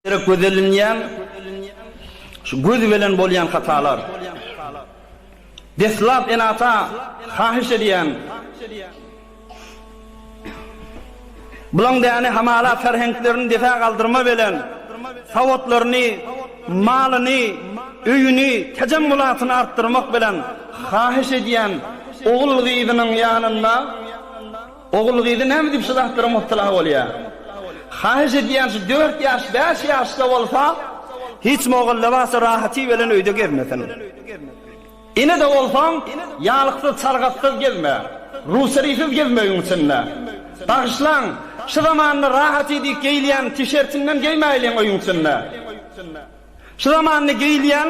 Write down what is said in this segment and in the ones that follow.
Gerek göz elinýän, şu göz belen bolýan hatalar. Deslap ene-ata hahyş edýän, bulaň däne hamala ferheňklerini dese galdyrma belen, sawatlaryny, malyny, öýüni, tejemmulatyny artdyrmak belen hahyş edýän ogul-gyzynyň ýanynda, Ogul-gyzy näme diýip şu zatlara mubtala bolýa? Haýyş edýän şu dört ýaş, bäş ýaşda bolsa, hiç mogalla barsa rahaty bilen öýde gezmesin. Ene-de bolsaň, ýalyksyz, çalgatsyz gezme. Ruserysyz gez möýüň içinde. Bagyşlaň, şu zamanda rahaty diýip geýilýän tişertiňden geýmäýliň öýüň içinde. Şu zamanda geýilýän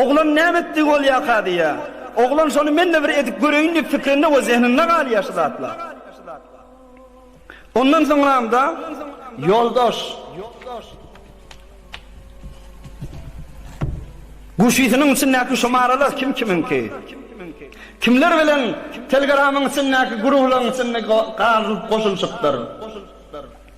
Oglan näme etdi bolýaka diýýä. Oglan şony men-de bir edip göreýin diýip pikrinde we zehninde galýa şu zatlar. Ondan soňramda ýoldaş Guşysynyň içindäki şumaralar kim kimiňki? Kimler bilen Telgramyň içindäki gurulaň içinde gazylyp goşulşypdyr?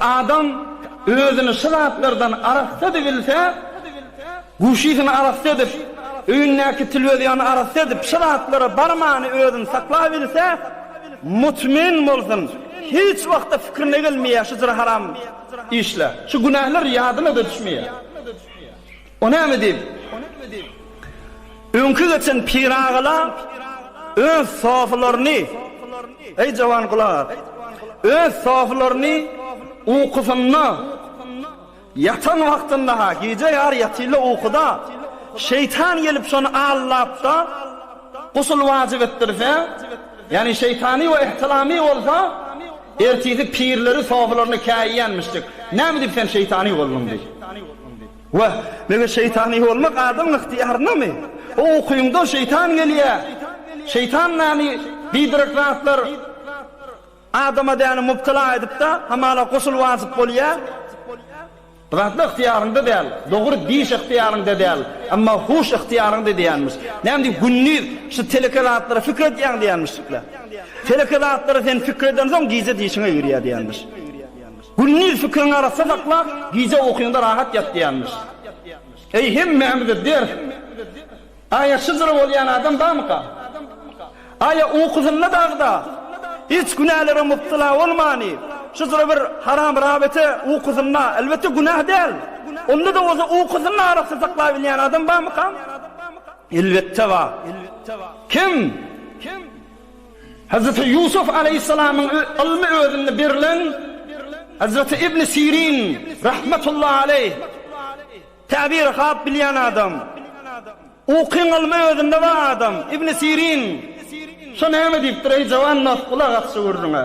Adam özüni şu zatlardan arassa edip bilse, guşysyny arassa edip, öýündäki tilwizýony arassa edip, şu zatlara barmany özüni saklap bilse, mutmyn bolsun, hiç wagtda pikirine gelmeýär şu jyry-haram işler, şu günähler ýadyna-da düşmeýär. O näme diýip, öňki geçen piragalar öz sofalaryny, eý, jowan gulak as, öz sofalaryny ukusynda, ýatan wagtynda-ha, gije ýar ýatylla ukuda, şeýtan gelip şony allap-da, gusl wajyp etdirse, ýagny şeýtany we ihtilamy bolsa, ertisi pirleri sofalaryna käýýänmişjik. Näme diýip sen şeýtany bolduň diýip. Wah, meger şeýtany bolmak adamyň ygtyýarynamy? O ukyňda şeýtan gelýär. Şeýtan näni biderek zatlar adama däni mubtala edip-de, hamala gusul wajyp bolýar. Bu zatlar ygtyýaryňda däl. Dogry, diş ygtyýaryňda däl, emma huş ygtyýaryňda diýýänmiş. Näme diýip, gündiz şu teleke zatlara pikir edýäň diýýänmiş şekilli. Teleke zatlara sen pikir edensoň, gije dişiň eýerýär diýýänmiş. Gündiz fikriňi arassa saklap, gije ukyňda rahat ýat diýýärmiş. Eý, hemmämize ders! Aýa şydyr bolýan adam barmyka? Aýa ukusynda dagda, hiç günälere mubtela bolmany, şydyr bir haram rabete ukusynda, elbetde günäh däl, onda-da bolsa ukusyny arassa saklabilýän adam barmyka? Elbetde bar. Kim? Hazreti Ýusuf alaýhyssalamyň ylmy özünde berilen Hazreti Ibni Sirin rahmetullahi alaýh Täbiri hap bilýän adam. Ukyň ylmy özünde bar adam. Ibni Sirin şo näme diýipdir, eý jawan nas, gulak as şu gürrüňe.